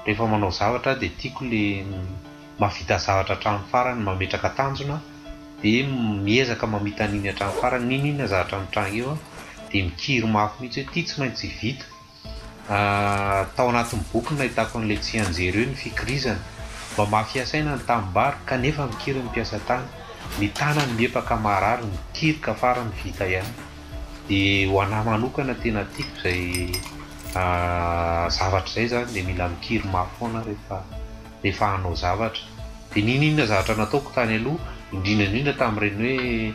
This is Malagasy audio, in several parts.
Rehefa manao zavatra aho dia tiako ilay mahavita zavatra hatramin'ny farany, mametraka tanjona dia miezaka mamita an'iny hatramin'ny farany, n'inon'inona zavatra mitranga eo aho dia mikiry mafy mihitsy hoe ity tsy maintsy vita, Tao anatin'ny boky no nahitako an'ilay tsianjery hoe ny fikirizana. Mamafy hasaina ny tanimbary kanefa mikiry ny mpiasa tany. Ny tanany miepa ka maharary, mikiry ka farany vita ihany. Dia ho an'ahy manokana tena tiako izay zavatra izay izany dia mila mikiry mafy foana aho rehefa hanao zavatra. Dia n'inon'inona zavatra nataoko tany aloha, indrindra indrindra tamin'ireny hoe.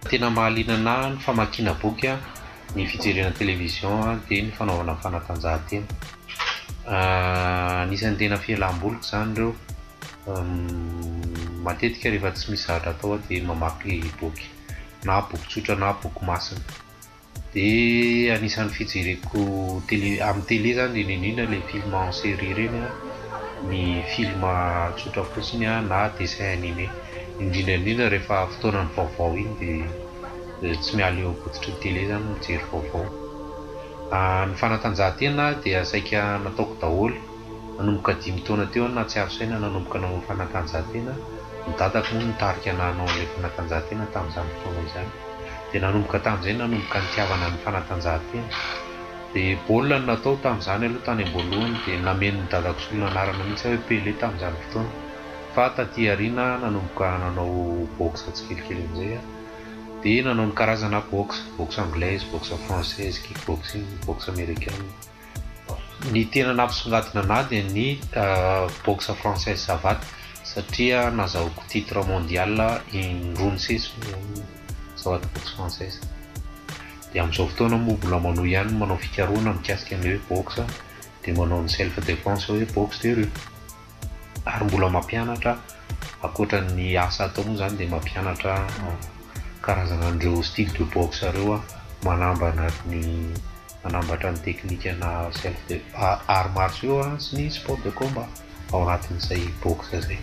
Tena mahaliana anahy ny famakiana boky an, ny fijerena television an dia ny fanaovana fanatanjahantena. Anisan'ny tena fialam-boliko izany ireo. Matetika rehefa tsy misy zavatra atao aho dia mamaky boky, na boky tsotra na boky masina. Dia anisan'ny fijereko tele amin'ny tele zany indrindra indrindra le film en série ireny a, ny film tsotra fotsiny a na dessin animé, indrindra indrindra rehefa fotoanan'ny vaovao iny dia tsy miala eo am-pototry ny tele zany ny mijery vaovao. Ny fanatanjahantena dia saika nataoko daholo. Nanomboka dimy taona teo aho nahatsiaro saina nanomboka nanao fanatanjahantena, ny dadako moa no nitarika anahy hanao an'ilay fanatanjahantena tamin'izany fotoana izany. Dia nanomboka tamin'izay nanomboka nitiavana ny fanatanjahantena. Dia baolina no natao tamin'izany aloha tany am-boalohany, dia namen'ny dadako solon'anarana mihitsy aho hoe Pele tamin'izany fotoana. Fa taty aoriana nanomboka nanao boxe tsikelikely amin'izay aho. Dia nanao ny karazana boxe, boxe anglaise, boxe française, kickboxing, boxe amerikana. Ny tena nampisongadina anah dia ny boxe française savate satria nazahoako titre mondial in-droa nisesy ny savate boxe française. Dia amin'izao fotoana moa mbola manohy ihany ny manao fikarohana mikasika ny hoe boxe dia manao ny self defense hoe boxe de rue. Ary mbola mampianatra, ankoatra ny asa atao moa izany dia mampianatra karazana an'ireo style de boxe ireo manambana ny manambatra ny teknikana self de arts martiaux sy ny sport de combat ao anatin'izay boxe izay.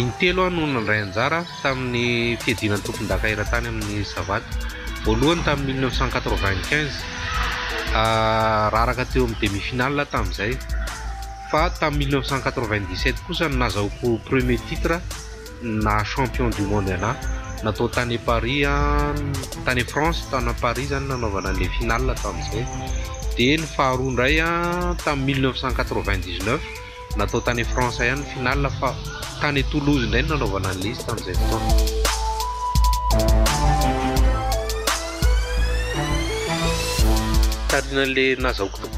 Intelo aho no nandray anjara tamin'ny fiadiana ny tompondaka eran-tany amin'ny Savaty. Voalohany tamin'ny mille neuf cent quatre-vingt-quinze. Raraka teo amin'ny demi-finale aho tamin'izay. fa tamin'ny mille neuf cent quatre-vingt-dix-sept kosa no nazahoako premier titre na champion du monde ana natao tany Paris an tany France tany Paris zany nanaovana le finale tamin'izay dia ny faharoa indray an tamin'ny mille neuf cent quatre-vingt-dix-neuf natao tany France ihany finale fa tany Toulouse indray nanaovana an'ilay izy tamin'izay fotoana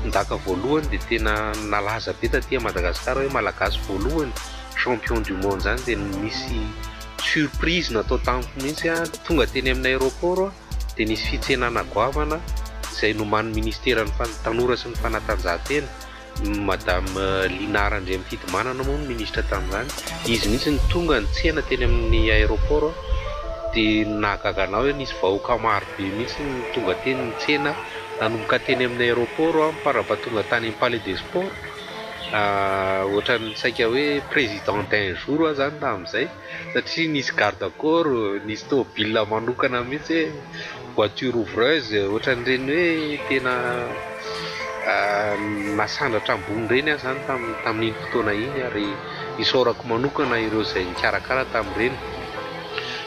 Ndaka voalohany dia tena nalaza be taty Madagascar hoe Malagasy voalohany champion du monde zany dia nisy surprise natao tamiko mihitsy ah tonga teny amin'ny aéroport ah dia nisy fitsenana goavana izay nomanin'ny ministera ny tanora sy ny fanatanjahantena madame Lina Randriamifidimanana moa ny ministra tamin'izany izy mihitsy ny tonga nitsena teny amin'ny aéroport dia nahagaga anao hoe nisy vahoaka maro Be mihitsy ny tonga teny nitsena nanomboka teny amin'ny aéroport aho par rapport tonga tany amin'ny palais des sports ohatran'ny saika hoe président d'un jour aho zany tamin'izay satria nisy garde corps nisy tômôbila manokana mihitsy hoe voiture ouvreuse ohatran'ireny hoe tena nasandratra ambony ireny aho zany tamin'iny fotoana iny ary isaorako manokana ireo izay nikarakara tamin'ireny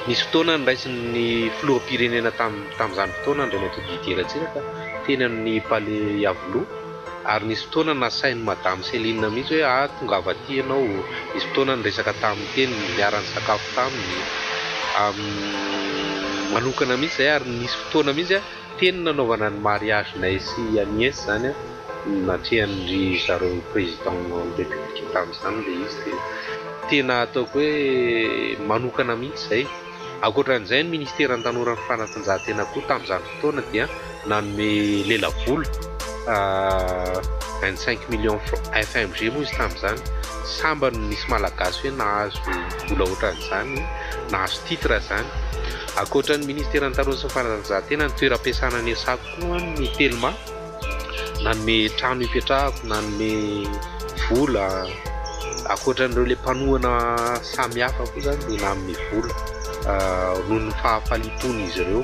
Nisy fotoana noraisin' ny filoham-pirenena tamin' izany fotoana Andriamatoa Didier Ratsiraka teny amin' ny Palais Iavoloha ary nisy fotoana nasain' i Madame Céline mihitsy hoe ah tongava aty ianao, nisy fotoana niresaka taminy teny, niara-nisakafo taminy manokana mihitsy izay ary nisy fotoana mihitsy teny nanaovana ny mariage-nay sy Agnès izany. Ny natrehan'ndry zareo président ny république tamin'izany le izy dia tena ataoko hoe manokana mihitsy izay. Ankoatran'izay ny ministeran'ny tanora ny fanatanjahantena koa tamin'izany fotoana dia nanome lela vola vingt cinq millions fr FMG moa izy tamin'izany. Sambany misy malagasy hoe nahazo vola ohatran'izany, nahazo titre izany. Ankoatran'ny ministeran'ny tanora sy ny fanatanjahantena ny toeram-piasana niasako koa ny telma. nanome trano hipetrahako, nanome vola, ankoatran'ireo ilay mpanohana samy hafa koa izany dia nanome vola noho ny fahafaliam-pon'izy ireo.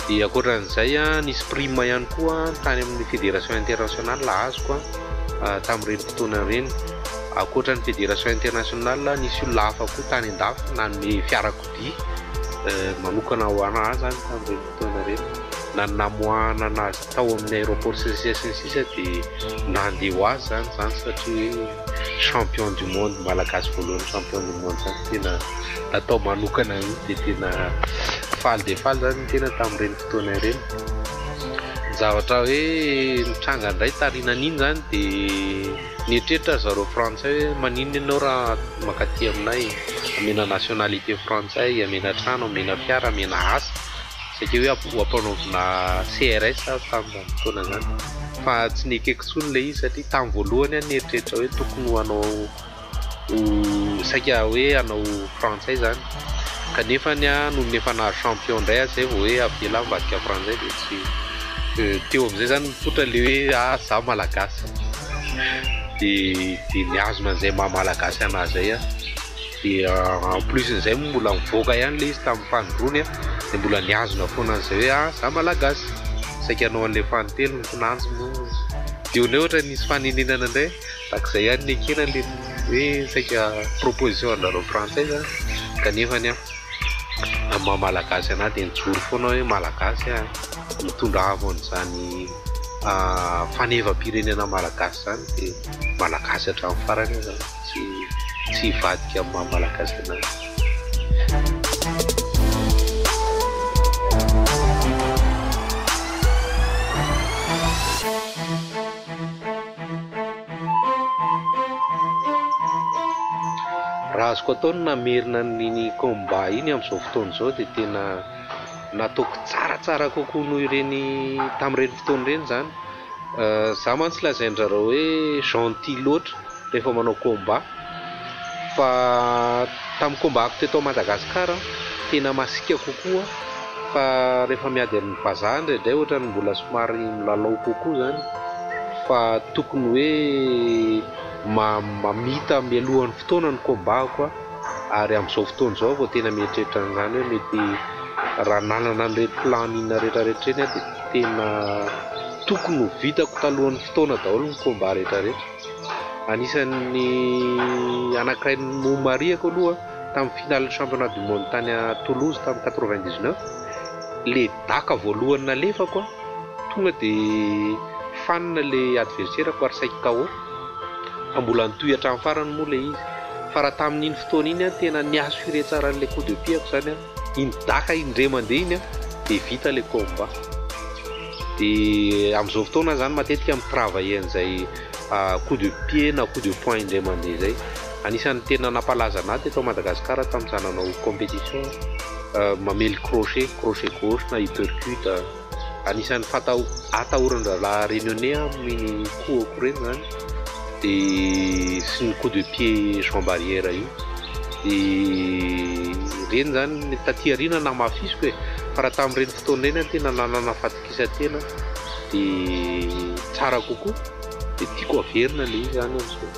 Dia ankoatran'izay nisy prime ihany koa tany amin'ny Fédération Internationale azoko tamin'ireny fotoana ireny. Ankoatran'ny Fédération Internationale nisy olona hafa koa tany an-dafy nanome fiarakodia manokana ho an'ahy izany tamin'ireny. taona ireto, na ny namoahana an'azy tao amin'ny aéroport sy ny sisa sy ny sisa dia nandeha ho azy izany izany satria hoe champion du monde malagasy voalohany champion du monde izany tena natao manokana mihitsy dia tena faly dia faly izany ny tena tamin'ireny fotoana ireny ny zavatra hoe nitranga indray tarinan'iny izany dia Nieritreritra ry zareo frantsay hoe maninona ianao raha mankaty aminay, amena nationalité frantsay, amena trano, amena fiara, amena asa, saika hoe hampanaovina CRS aho tamin'izany fotoana izany fa tsy nekeko intsony ilay izy satria tamin'ny voalohany aho nieritreritra hoe tokony ho hanao ho saika hoe hanao frantsay izany. Kanefa anie an, olona efa nahazo champion indray an, zay vao hoe avela ambadika frantsay dia tsy dia teo amizay zany mipoitra le hoe ah za malagasy dia dia mihazona an'izay maha malagasy anahy zay an, dia en plus n'izay moa mbola nivoaka ihany le izy tamin'ny fanindroany an, dia mbola nihazona foana an'izay hoe ah za malagasy, saika hanao an'ilay fanintelony kinanjo moa, dia ohatrany ohatrany nisy fanenenana indray. Tahaka izay ihany ny ekena le hoe saika proposition anareo frantsay zany kanefa ny amin'ny maha malagasy anah dia nijoro foana hoe malagasy ah mitondra avo an'izany fanevam-pirenena malagasy izany dia malagasy hatramin'ny farany aho zany tsy tsy hivadika amin'ny maha malagasy anah. Raha azoko atao ny namerina an'iny combat iny amin'izao fotoana izao dia tena nataoko tsaratsara kokoa noho ireny tamin'ireny fotoana ireny izany. Izaho mantsy lazain-dry zareo hoe gentil loatra rehefa manao combat. Fa tamin'ny kombako teto Madagasikara, tena masiaka kokoa fa rehefa miady amin'ny vazaha indraindray ohatran'ny mbola somary milalao kokoa izany fa tokony hoe mamita mialoha ny fotoana ny kombako aho ary amin'izao fotoana izao vao tena mieritreritra an'izany hoe mety raha nanana an'ireny planning rehetrarehetra ireny aho dia tena tokony ho vitako talohan'ny fotoana daholo ny combat rehetrarehetra. Anisan'ny anankiray nomarihako aloha tamin'ny finalin'ny championnat du monde tany à Toulouse tamin'ny quatre-vingt-dix-neuf, le daka voalohany nalefako tonga de fanina le adverserako ary saiky KO, fa mbola nitohy hatramin'ny farany moa le izy, fa raha tamin'iny fotoana iny tena ni-assurer tsara an'le coup de pied-ko zany aho. iny daka iny ndre mandeha iny dia vita ilay combat dia amin'izao fotoana izany matetika mi travailler an'izay coup de pied na coup de poing indray mandeha izay anisan'ny tena nampalaza an'ahy teto Madagasikara tamin'izaho nanao competition mamely crochet, crochet gauche na uppercut. anisan'ny fatao atahoran-drahalahy Réunionnais aminy ny kohako ireny izany dia sy ny coup de pied Jean Barrière io dia ireny izany taty aoriana namafisiko e fa raha tamin'ireny fotoana ireny aho tena nanana fatokisan-tena dia tsara kokoa dia tiako haverina ilay izy izany amin'izao.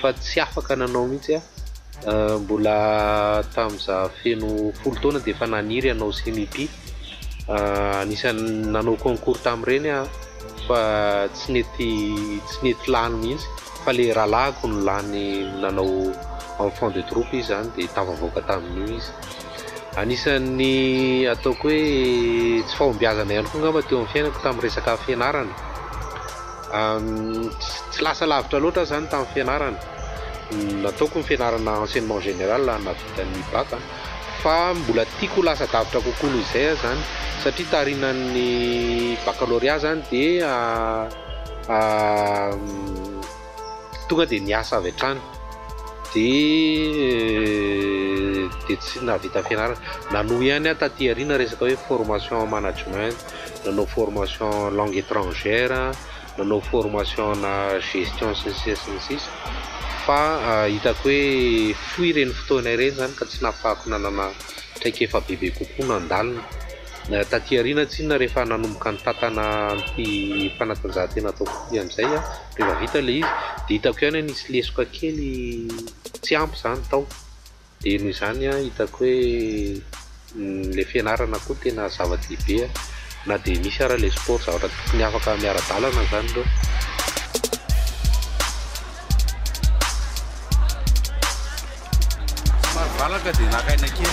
fa tsy afaka nanao mihitsy aho, mbola tamin'ny za feno folo taona dia efa naniry hanao CMIP, anisan'ny nanao concours tamin'ireny aho fa tsy nety tsy nety lany mihitsy fa ilay rahalahiko no lany nanao enfant de troupe izy izany dia tafavoaka tamin'io izy, anisan'ny ataoko hoe tsy fahombiazana ihany koa angamba teo amin'ny fiainako tamin'ny resaka fianarana. Tsy lasa lavitra loatra aho izany tamin'ny fianarana. Nataoko ny fianarana enseignement général nahavita ny bac a. Fa mbola tiako ho lasa davitra kokoa noho izay aho izany satria tarinan'ny baccalauréat izany dia tonga dia niasa avy hatrany dia tsy nahavita ny fianarana. Nanohy ihany aho taty aoriana resaka hoe formation en management. nanao formation langue etrangère, nanao formation ana gestion sy ny sisa sy ny sisa fa hitako hoe fohy ireny fotoana ireny izany ka tsy nahafahako nanana traikefa bebe kokoa nandalina. Taty aoriana tsinona rehefa nanomboka nitantana an'ity fanatanjahantena ataoko ity amin'izay aho, rehefa vita ilay izy dia hitako ihany hoe nisy lesoka kely tsy ampy izany tao. Dia noho izany an, hitako hoe ilay fianarana koa tena zava-dehibe an, na dia misy ara ilay sport zavatra tokony afaka miara-dalana izany ireo. Somary valaka dia naka aina kely.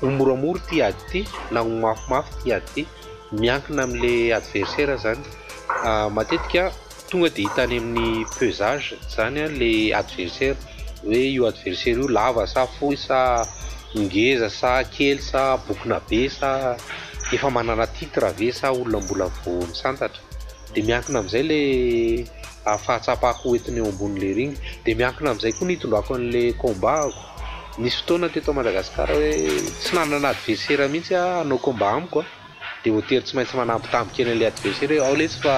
Ho moramora ity ady ity na ho mafimafy ity ady ity, miankina amin'le adversaire zany, matetika tonga de hita any amin'ny pesage zany an le adversaire, hoe io adversaire io lava sa fohy sa ngeza sa kely sa bokona be sa efa manana titre ve sa olona mbola vao misantatra, de miankina amin'izay le fahatsapako ho entina eo ambonin'le ring, de miankina amin'izay koa ny itondrako an'le combat-ko. Nisy fotoana teto Madagascar hoe tsy nanana adversaire mihitsy ah hanao combat amiko ah de hotery tsy maintsy manambitamby kely an'ilay adversaire hoe ao letsy fa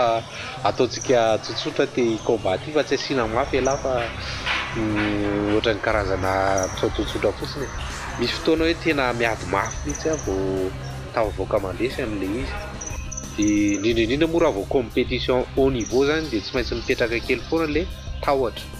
ataontsika tsotsotra ty combat ty fa tsy asiana mafy elah fa ohatran'ny karazana mpisaotsotsotra fotsiny e. Misy fotoana hoe tena miady mafy mihitsy ah vao tafavoaka mandresy an'ilay izy. De indrindra indrindra moa raha vao competition haut niveau zany de tsy maintsy mipetraka kely foana le tahotra.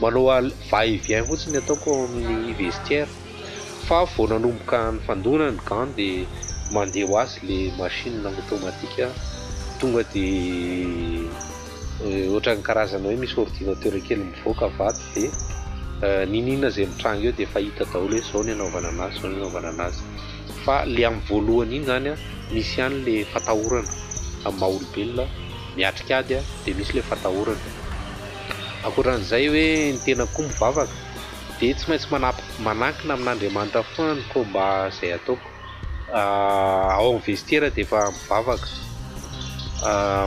Manao al va et vient fotsiny ataoko ao amin'ny vestiaire fa vao nanomboka nifandona ny gants de mandeha ho azy le machine automatique tonga de ohatran'ny karazana hoe misy ordinateur kely mivoaka vato de n'in'inona zay mitranga eo de efa hita daholo hoe zao ny anaovana anazy zao ny anaovana anazy fa le amin'ny voalohany iny zany misy ihany le fatahorana amin'ny maha olombelona miatrika ady de misy le fatahorana Ankoatran'izay hoe ny tenako koa mivavaka dia tsy maintsy manankina amin'Andriamanitra foana ny combat izay ataoko. Ao amin'ny vestiaire dia efa mivavaka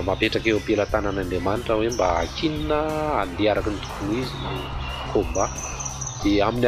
mapetraka eo am-pelatanan'Andriamanitra hoe mba hakianina handeha araka ny tokony ho izy ny combat dia amin'ny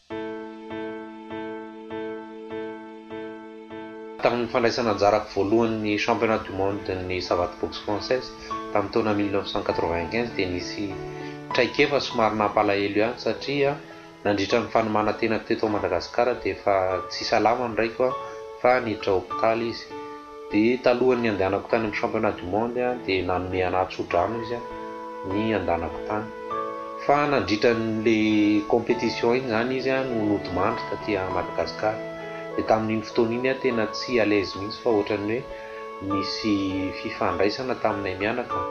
Tamin'ny fandraisana anjara voalohan'ny Championnat du Monde-n'ny Savate Boxe Française tamin'ny taona mille neuf cent quatre-vingt-quinze dia nisy traikefa somary nampalahelo ihany satria nandritra ny fanomàna-tenako teto Madagasikara dia efa tsy salama ny raiko fa niditra hopitaly izy. Dia talohan'ny handehanako tany amin'ny Championnat du Monde dia nanome anà tso-drano izy ny handehanako tany. Fa nandritra an'ilay compétition iny izany izy no nodimandry taty Madagascar. Dia tamin'iny fotoana iny aho tena tsy à l'aise mihitsy fa ohatran'ny hoe nisy fifandraisana taminay mianaka,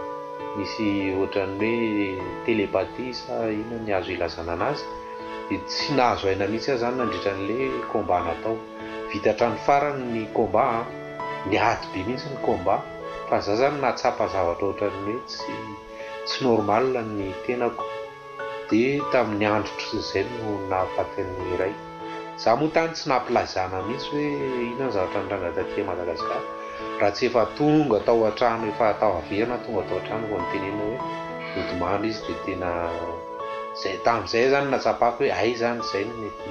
nisy ohatran'ny hoe télépathie sa inona ny azo ilazana an'azy, dia tsy nahazo aina mihitsy aho izany nandritra an'ilay combat natao. Vita hatrany farany ny combat an! Niady be mihitsy ny combat fa za zany nahatsapa zavatra ohatran'ny hoe tsy tsy normal ny tenako de tamin'ny andro otriny zay no nahafatin'ny iray. Za moa tany tsy nampilazana mihitsy hoe inona ny zavatra nitranga taty Madagascar raha tsy efa tonga tao antrano efa tao averina tonga tao antrano vao nitenenina hoe nodimandry izy de tena zay tamin'izay zany natsapako hoe hay zany zay no mety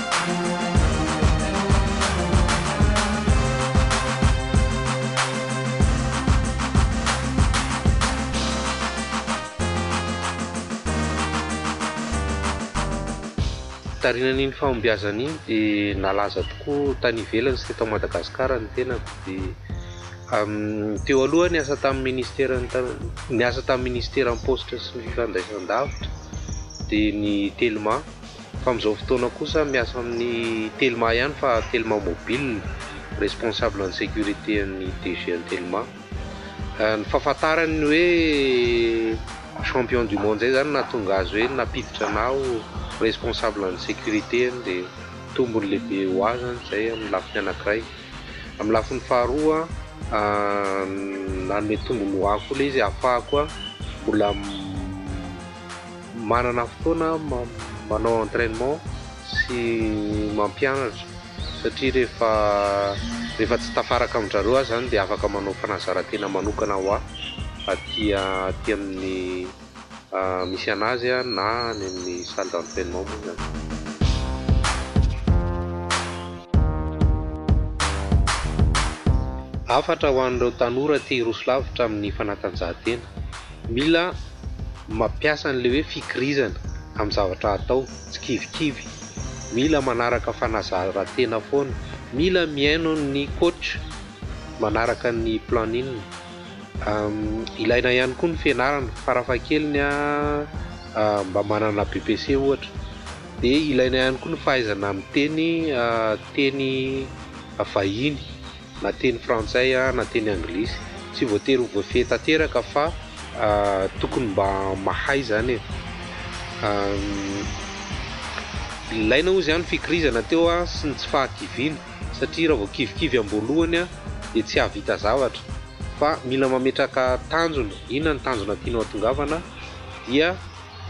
Tarinan'iny fahombiazana iny dia nalaza tokoa tany ivelany sy teto Madagasikara ny tenako. Dia teo aloha aho niasa tamin'ny ministera niasa tamin'ny ministeran'ny paositra sy ny fifandraisandavitra dia ny Telma. Fa amin'izao fotoana kosa miasa amin'ny telma ihany fa telma mobile responsable ny sécurité an'ny DG an'ny telma. Ny fahafantarany ny hoe champion du monde zay zany nahatonga azy hoe nampiditra anah ho responsable ny sécurité dia tombony lehibe ho ahy zany zay amin'ny lafiny anankiray. Amin'ny lafiny faharoa nanome tombony ho ahy koa le izy ahafahako mbola Manana fotoana manao entrainement sy mampianatra satria rehefa rehefa tsy tafaraka amin-dRareo aho izany dia afaka manao fanazarantena manokana ho ahy aty aty amin'ny misy an'azy na any amin'ny salle d'entrainement moa izany. Hafatra ho an'ireo tanora te hiroso lavitra amin'ny fanatanjahantena. Mila mampiasa an'ilay hoe fikirizana amin'ny zavatra hatao, tsy kivikivy. Mila manaraka fanazaran-tena foana. Mila mihaino ny coach manaraka ny planning. Ilaina ihany koa ny fianarana, farafahakeliny mba manana BPC ohatra. Dia ilaina ihany koa ny fahaizana miteny teny vahiny. na teny frantsay na teny anglisy, tsy voatery ho voafehy tanteraka fa tokony mba mahay izany e! ilaina hoy izany ny fikirizana teo sy ny tsy fahakiviana satria raha vao kivikivy am-boalohany dia tsy hahavita zavatra fa mila mametraka tanjona, inona ny tanjona tianao hatongavana dia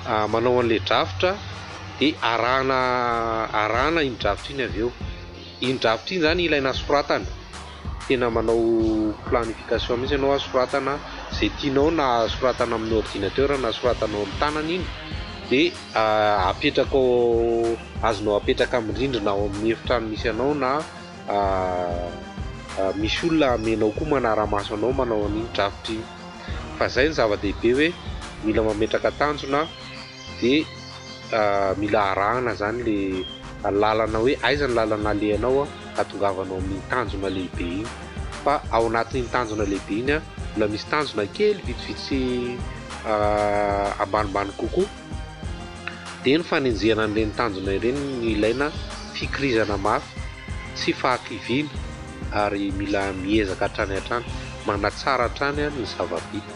manao an'ilay drafitra dia arahana arahana iny drafitra iny avy eo. Iny drafitra iny zany ilaina soratana, tena manao planification mihitsy ianao a, soratana izay tianao na soratana amin'ny ordinateur na soratanao amin'ny tanana iny de apetraka ao, azonao apetraka amin'ny rindrina ao amin'ny efitrano misy anao na misy olona amenao koa manara-maso anao manao an'iny drafitra iny, fa zay no zava-dehibe hoe mila mametraka tanjona. dia mila arahana izany ilay lalana hoe aiza ny lalana alehanao hahatongavanao amin'iny tanjona lehibe iny fa ao anatin'iny tanjona lehibe iny mbola misy tanjona kely vitsivitsy ambanimbany kokoa dia ny fanenjehana an'ireny tanjona ireny no ilaina fikirizana mafy tsy fahakiviana ary mila miezaka hatrany hatrany manatsara hatrany ny zava-bita